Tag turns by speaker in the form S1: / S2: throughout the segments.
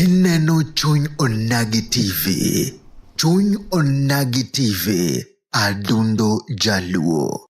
S1: Ineno chuny onagi TV. Chuny onagi TV. Adundo Jaluo.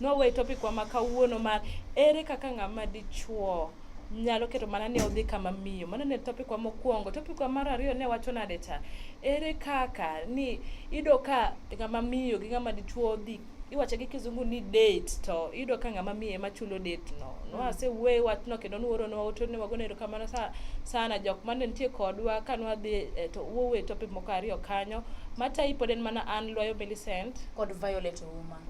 S2: Nwawe topic wa ma kawuono mar ere kaka ng'ama dichuo nyalo keto mana ni odhi kama miyo. Mano ne topic wa mokwongo. Topic wa mar ariyo ne wacho nade cha? Ere kaka ni iyudo ka ng'ama miyo gi ng'ama dichuo dhi iwacho gi kizungu ni date to iyudo ka ng'ama miyo ema chulo date no. Nwasewuoye wachno kendo nworonwa ote ne wagone erokamano sa- sana jok mane nitie kodwa ka nwadhi eh, to wuowe topic moko ariyo kanyo. Matayi pod en mana an Lwayo Millicent. kod Violet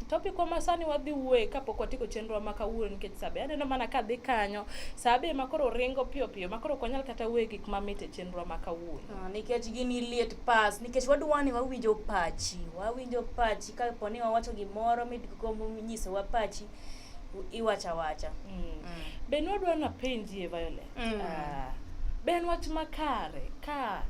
S3: Topic ma sani
S2: wadhi wuoye kapok watieko chenro ma kawuono nikech sabe aneno mana ka dhi kanyo sabe ma koro ringo piyo piyo ma koro ok wanyal kata wuoye gik ma mit e chenro ma kawuono. Ah, nikech gini liet
S3: pas nikech wadwa ni wawinjo pachi wawinjo pachi kapo ni wawacho gimoro midgo nyisowa pachi iwacho awacha Mm. Mm. be
S2: nwadwa napenjie violet Mm. Ah, be en wach makare ka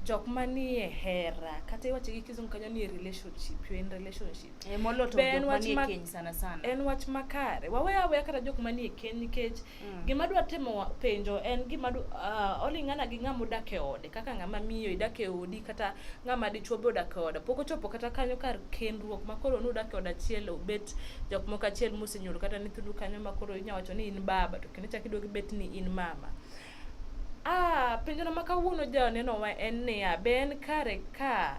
S2: jok manie hera kata iwacho gi kizungu kanyo ni relationship you in relationship Eh, moloyo to Be en jok
S3: wach manie ma- keny sana sana en wach makare
S2: wawe aweya kata jok manie keny nikech Mm. Gima dwa temo penjo en gima uh, ah, oling'ana gi ng'ama odak e ode kaka ng'ama miyo idak e odi kata ng'ama dichuo be odak e ode pok ochopo kata kanyo kar kendruok ma koro nudak e od achiel obet jok moko achiel mosenyuol kata nyithindu kanyo ma koro inya wacho ni in baba to kendo chak iduogi bet ni in mama ah penjono ma kawuono ja nenowa en niya be en kare ka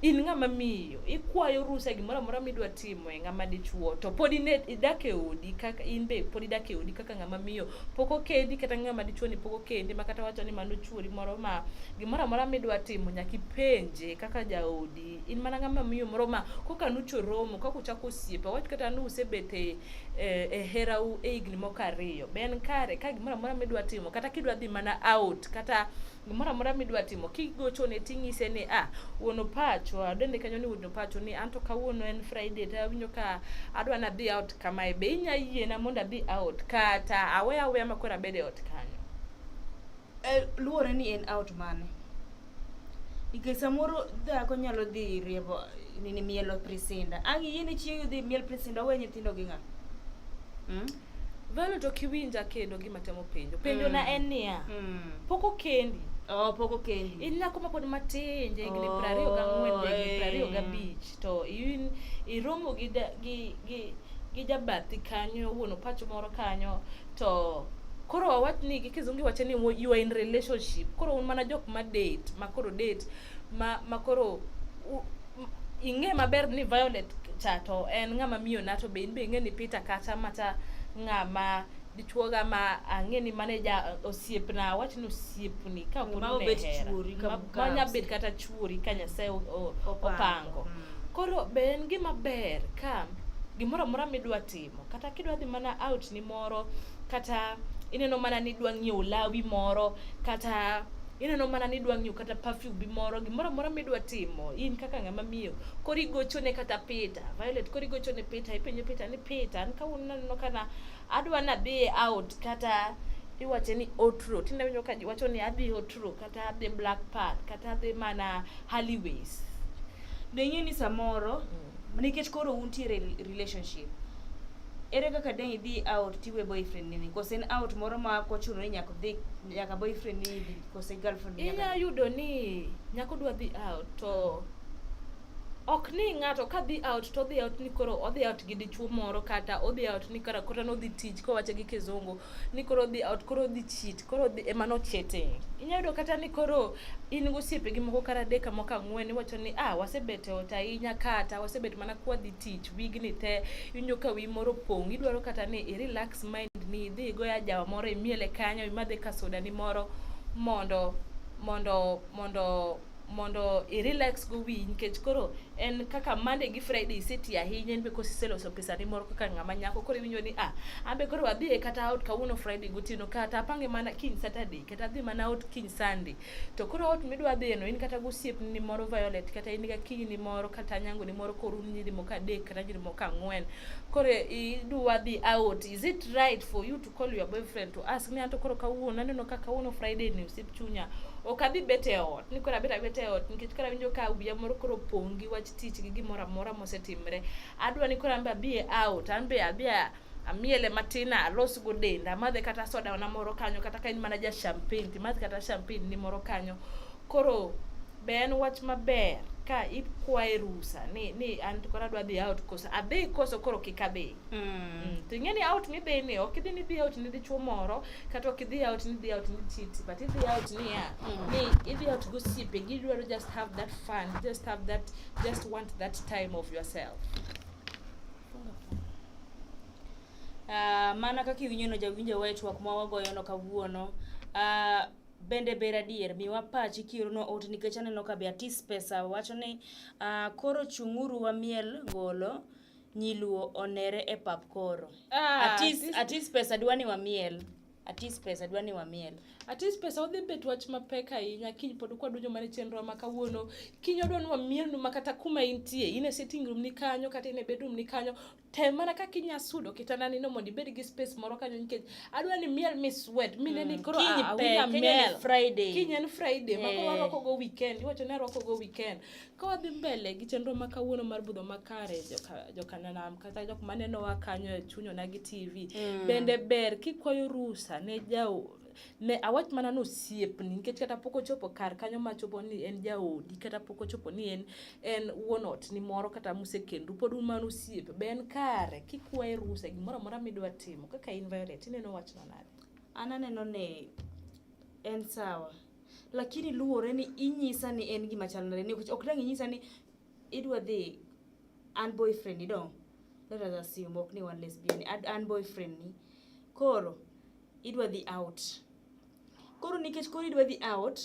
S2: in ng'ama miyo ikwayo rusa gimoro amora midwa timo e ng'ama dichuo to pod ine idak e odi kaka in be pod idak e odi kaka ng'ama miyo pok okendi kata ng'ama dichuo ni pok okendi ma kata wacho ni mano chuori moro ma gimoro amora midwa timo nyaka ipenje kaka jaodi in mana ng'ama miyo moro ma koka nucho romo kaka uchako osiepe wach kata ni usebet e, e, e herau e higni moko ariyo be en kare ka gimoro amora midwa timo kata kidwa dhi mana out kata gimoro amora midwa timo kigochone ting'ise ni ah wuon opacho adende kanyo ni wuon opacho ni anto kawuono en friday to awinjo ka adwa nadhi out kamae be inya yiena mondo adhi out kata awe aweya ma koro abed e ot kanyo Eh, luwore ni
S3: en out mane nikech samoro dhako nyalo dhi riembo nini mielo prisinda ang' iyie ni chiegi dhi miel prisinda owe nyithindo gi ng'a mm? Violet
S2: ok iwinja kendo gima temo penjo. Penjo na en niya. Mm. Pok okendi. Oh, pok okendi.
S3: In nyako ma pod matin,
S2: ja higni Oh, prariyo gang'wen, ja higni eh. prariyo gabich. To in iromo gi da- gi gi gi jabathi kanyo, wuon opacho moro kanyo, to koro wawach ni gi kizungu iwacho ni wo- you are in relationship. Koro un mana jok ma date, ma koro date, ma ma koro u- ing'e maber ni Violet cha to en ng'ama miyo na to be in be ing'e ni Peter kata mata ng'ama dichuoga ma ang'e ni mane ja osiepna awach ni osiepni ka wuon ne hera
S3: ma nya bet kata
S2: chuori ka Nyasaye opango mm. koro be en gima ber ka gimoro amora midwa timo kata kidwa dhi mana out ni moro kata ineno mana ni idwa ng'iewo lawi moro kata ineno mana ni idwa ng'iewo kata perfume moro gimoro amora midwa timo in kaka ng'ama miyo koro igochone kata Peter Violet koro igochone Peter ipenjo Peter ni Peter an kawuono naneno kana adwa nadhi out kata iwache ni otro tinde winjo ka wacho ni adhi otro kata adhi black park kata adhi mana Hollyways deng'e
S3: ni samoro mm. nikech koro untiere e relationship ere kaka dang' idhi out tiwe boyfriend nini kose en out moro ma kochuno ni nyaka dhi nyaka boyfriend nini dhi kose girlfriend nini inya yudo ni
S2: nyako dwa dhi out to ok ni ng'ato ka dhi out to odhi out ni koro odhi out gi dichuo moro kata odhi out ni kara koro nodhi tich kowacho gi kizungu ni koro odhi out koro odhi cheat koro ema nochete inyalo yudo kata ni koro in gosiepegi moko kata adek moko ang'wen iwacho ni ah wasebet e ot ahinya kata wasebet mana kwadhi tich wigni te iwinjo ka wi moro pong' idwaro kata ni i relax mind ni idhi igoya jawa moro imiele kanyo imadhe ka sodani moro mondo mondo mondo mondo i-relax go wiyi nikech koro en kaka Monday gi Friday iseti ahinya in be kose iseloso pesani moro kaka ng'ama nyako koro iwinjo ni ah an be koro adhi e kata out kawuono Friday gotieno kata apange mana kiny Saturday kata adhi mana out kiny Sunday to koro out midwa dhiyeno in kata gosiepni ni moro Violet kata in ga kiny ni moro kata nyango ni moro koro un nyiri moko adek kata nyiri moko ang'wen koro idwa dhi out is it right for you to call your boyfriend to ask me anto koro kawuono aneno ka kawuono Friday ni osip chunya ok abi bet e ot ni koro abet abet e ot nikech koro awinjo ka wiya moro koro pong' gi wach tich gi gimoro amora mosetimre adwa ni koro an be abi e out an be abi a amiele matin alos go denda amadhe kata soda na moro kanyo kata ka en mana ja champagne timadh kata champagne ni moro kanyo koro Be en wach maber ka ikwaye rusa ni ni an to koro adwa dhi out koso adhi koso koro kik adhi Mm. Mm, to ing'e ni out midhi ni ok idhi ni idhi out ni dichwo moro kata ok idhi out ni idhi out ni titi but idhi out ni ya Mm. ni idhi out gosiepe gidwaro just have that fun just have that just want that time of yourself
S3: Ah, mana kaka iwinjono jawinjo wach twak ma wagoyono kawuono Ah, Bende ber adier miwa pachi kiorona ote nikech aneno ka be atis pesa wacho ni uh, koro chung'uru wamiel ngolo nyiluo onere e pap koro Ah, atis, atis- atis pesa dwa ni wamiel atis pesa dwa ni wamiel atis pesa odhi bet wach mapek ahinya kiny pod kwadonjo mana e chenro ma kawuono kiny odwa ni wamielnu ma kata kuma intie in e sitting room ni kanyo kata in e bedroom ni kanyo tem mana kaka inya sudo kitanda nino mondo ibed gi space moro kanyo nikech adwa ni miel mi sweat mi neni mm. koro awinja miel friday kiny en
S2: friday ma koro eh. arwako go weekend iwacho ni arwako go weekend ka wadhi mbele gi chenro ma kawuono mar budho makare jokananam kata jok manenowa kanyo e chunyona gi tv mm. bende ber kikwayo rusa ne jau ne awach mana ni osiepni nikech kata pok ochopo kar kanyo machopo ni en jaodi kata pok ochopo ni en en wuon ot ni moro kata musekendu pod un mana osiepe be en kare kikwaye rusa gimoro amora midwa timo kaka in Violet ineno wachno nade an aneno ni
S3: en sawa lakini luwore ni inyisa ni en gima chal nade nikech ok dang' inyisa ni idwa dhi an boyfriend ni dong let us assume ok ni wan lesbian ni ad- an boyfriend ni koro idwa dhi out. Koro nikech koro idwa dhi out,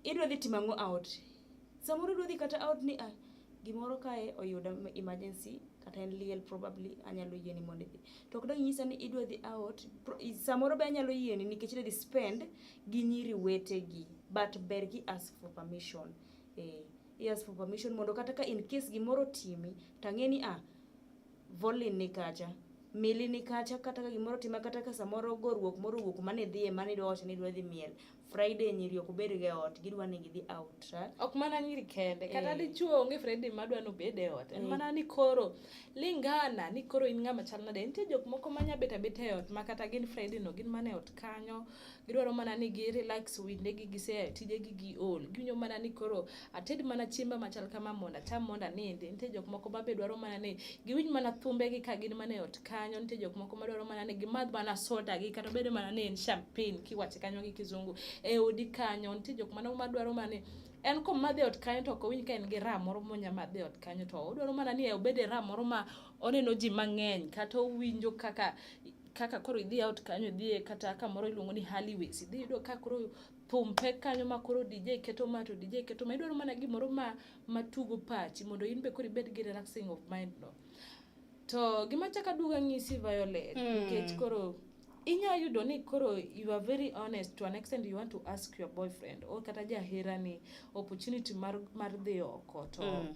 S3: idwa dhi timo ang'o out? Samoro idwa dhi kata out ni ah, gimoro kae oyuda emergency kata en liel probably anyalo yieni mondo idhi. To ok dang' inyisa ni idwa dhi out, pro- i- samoro be anyalo yieni nikech idwa dhi spend gi nyiri wetegi but ber ki ask for permission. Eh, i ask for permission mondo kata ka in case gimoro otimi tang'e ni ah, Volin ni kacha, Mili ni kacha kata ka gimoro tima kata ka samoro goruok moro owuok kuma ne dhie mane idwa wacho ni idwa dhi miel. Friday nyiri ok bed ga e ot, gidwa ni gidhi out. ha? Ok mana nyiri
S2: kende, kata Eh. dichuo onge Friday ma dwa nobed e ot. En Eh. mana ni koro lingana ni koro in ng'ama chal nade. Nitie jok moko ma nya bet abeta e ot ma kata gin Friday no gin mana e ot kanyo, gidwaro mana ni gi relax with ne gi gise tije gi gi ol giwinjo mana ni koro ated mana chiemba machal kama mondo acham mondo anindi nitie jok moko babe dwaro mana ni giwinj mana thumbe gi ka gin mana e ot kanyo nitie jok moko madwaro mana ni gimadh mana soda gi kata bedo mana ni en champagne kiwache kanyo gi kizungu e odi kanyo nitie jok mano madwaro mana ni en komadhi e ot kanyo to ok owinj ka en gi ram moro monya madhi e ot kanyo to odwaro mana ni e obed e ram moro ma oneno ji mang'eny kata owinjo kaka kaka koro idhi out kanyo idhiye kata kamoro iluongo ni Hallways idhi yudo ka koro thum pek kanyo ma koro DJ keto ma to DJ keto ma idwaro mana gimoro ma matugo pachi mondo in be koro ibed gi relaxing of mind no to gima chaka duga ng'isi Violet hmm. nikech mm. koro inya yudo ni koro you are very honest to an extent you want to ask your boyfriend or kata jahera ni opportunity mar, mar dhi oko to mm.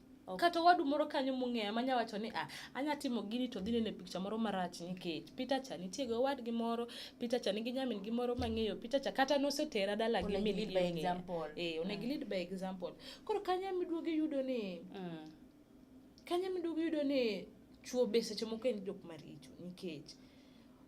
S2: Kata owadu moro kanyo mong'eya manya wacho ni ah, anya timo gini to dhi nene picha moro marach nikech Peter cha nitie gi owadgi moro, Peter cha nigi nyamin gi moro mang'eyo, Peter cha kata nosetera dala gi min gi ong'eya. Eh, onego mm. lead by example. Koro kanyo ema iduogo iyudo ni mm. kanyo ema iduogo iyudo ni chwo be seche moko en jok maricho nikech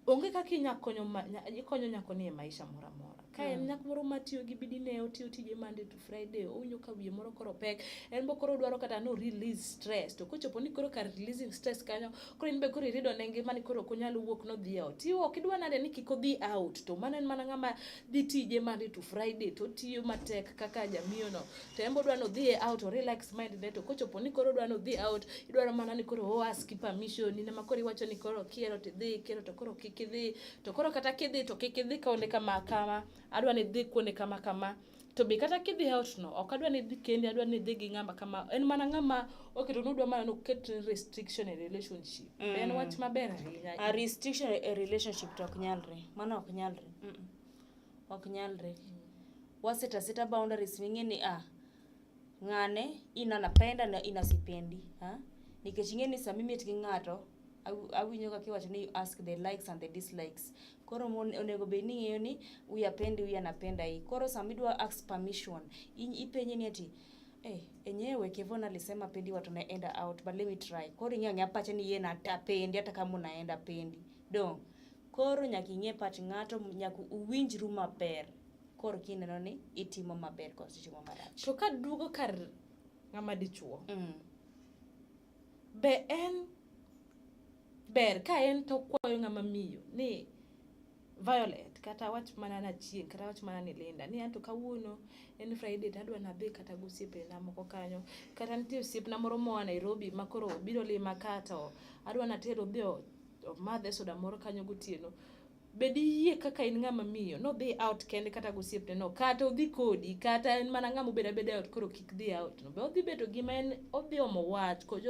S2: onge kaka inya konyo ma- nya- ikonyo nyako ni e maisha moro amora ka en nyako moro matiyo gi bidi ne otiyo tije monday to friday owinjo ka wiye moro koro pek en bo koro dwaro kata no release stress to kochopo ni koro kar releasing stress kanyo koro in be koro irido ne ngima ni koro ok onyal wuok nodhi e ot iwo ok idwa nade ni kik odhi out to mano en mana ng'ama dhi tije monday to friday to otiyo matek kaka jamiyono Tembo dwa nodhi e out or relax mind ne to kochopo ni koro dwa nodhi out idwaro mana ni koro o ask permission ni ma koro iwacho ni koro kiero to idhi kiero to koro kik idhi to koro kata kidhi to kik idhi kaonde kama kama adwa ni idhi kuonde kama kama to be kata kidhi out no ok adwa ni idhi kendi adwa ni idhi gi ng'ama kama en mana ng'ama oketo nudwa mana noket restriction e relationship mm. en wach maber ahinya a restriction e
S3: relationship to ok nyalre mano ok nyalre mm -mm. ok nyalre waseta seta boundaries ming'e ni ah ng'ane in anapenda na in asipendi ha nikech ing'e ni sama imit gi ng'ato aw- awinjo kaka iwacho ni you ask the likes and the dislikes koro mon- onego bed ni ing'eyo ni huyu apendi huyu anapenda hii koro sama idwa ask permission in- ipenje ni ati Eh, enyewe Kevon alisema pendi watu naenda out but let me try. Koro ing'e ang'e apache ni yeye natapendi hata kama unaenda pendi. Dong. Koro nyaka ing'e pach ng'ato, nyaka uwinjru maber koro kineno ni itimo maber koso itimo marach. To ka duogo kar
S2: ng'ama dichuo, mm. be en ber ka en to kwayo ng'ama miyo ni Violet kata wach mana na chieng kata wach mana ni Linda ni anto kawuono en Friday to adwa nadhi kata gosiepena moko kanyo kata nitie osiepna moro moa Nairobi makoro biro lima kato adwa natero odhi madhe soda moro kanyo gotieno be diyie kaka in ng'ama miyo nodhi out kende kata gosiepne no kata odhi kodi kata en mana ng'ama obedo abeda out koro kik dhi out no be odhi bedo gima en odhi omo wach koch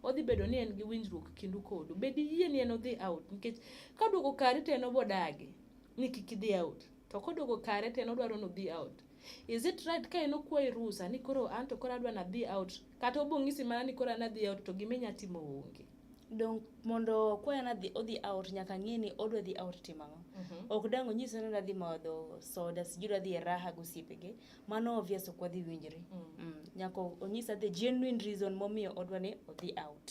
S2: odhi bedo ni en gi winjruok kindu kodu be diyie ni en odhi out nikech ka duogo kari to en obodagi ni kik idhi out to koduogo kare to en odwaro nodhi out is it right ka en okwayi rusa ni koro an to koro adwa nadhi out kata obong'isi mana ni koro an adhi out to gima inya timo onge donk
S3: mondo kwayo nadhi odhi out nyaka ng'e ni odwa dhi out timo ang'o Mhm. ok dang onyise ni nadhi madho soda sijui nadhi e raha gosiepege mano obvious ok wadhi winjre Mm. mm. nyaka onyisa the genuine reason momiyo odwa ni odhi out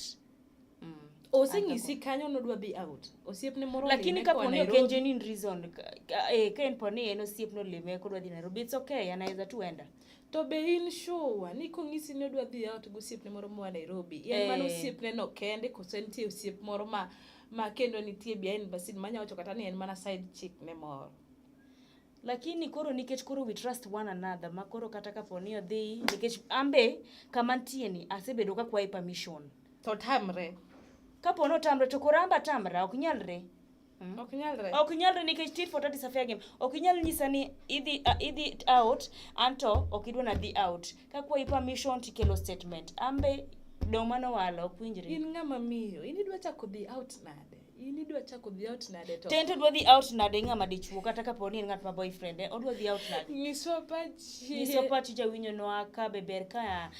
S3: mm.
S2: oseng'isi kanyo nodwa dhi out osiepne moro lakini olime koa kapo ni ok en Nairobi.
S3: genuine reason ka- ka- eh, ka en po ni en osiep nolime kodwa dhi nairobi it's okay anaweza tu enda To be in
S2: sure ni kong'isi ni odwa dhi out gi osiepne moro moa Nairobi, en mano Eh. osiepne no kende koso nitie osiep moro ma ma kendo nitie behind the scene manya wacho kata ni en mana side chick ne moro.
S3: lakini koro nikech koro we trust one another ma koro kata kapo ni odhi nikech ambe kama ntie ni asebedo ka kwaye permission To tamre.
S2: kapo ni otamre
S3: to koro amba tamra ok nyalre Mm. Ok nyalre. Ok nyalre nikech tit for tat is a fair game. Ok inyal nyisa ni idhi uh, idhi out anto ok idwa na dhi out. Ka kwayi permission tikelo statement. Ambe dong mano walo ok winjre. In ng'ama miyo,
S2: in idwa chako dhi out nade? in idwa chako dhi out nade to tento dwa dhi out nade
S3: ng'ama dichuo kata kapo ni en ng'at ma boyfriend eh, odwa dhi out nade nyiso pachi nyiso pachi jawinyo nwa ka be ber ka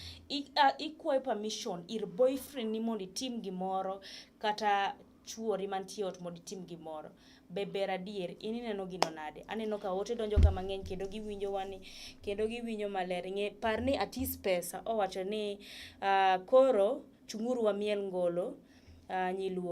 S3: ikwayo permission ir boyfriend ni mondo itim gimoro kata chwori mantie ot mondo itim gimoro be ber adier in ineno gino nade aneno ka ote donjo ka mang'eny kendo giwinjo wani kendo giwinjo maler ng'e par ni atis pesa owacho ni uh, koro chung'uru wamiel ngolo uh, nyiluo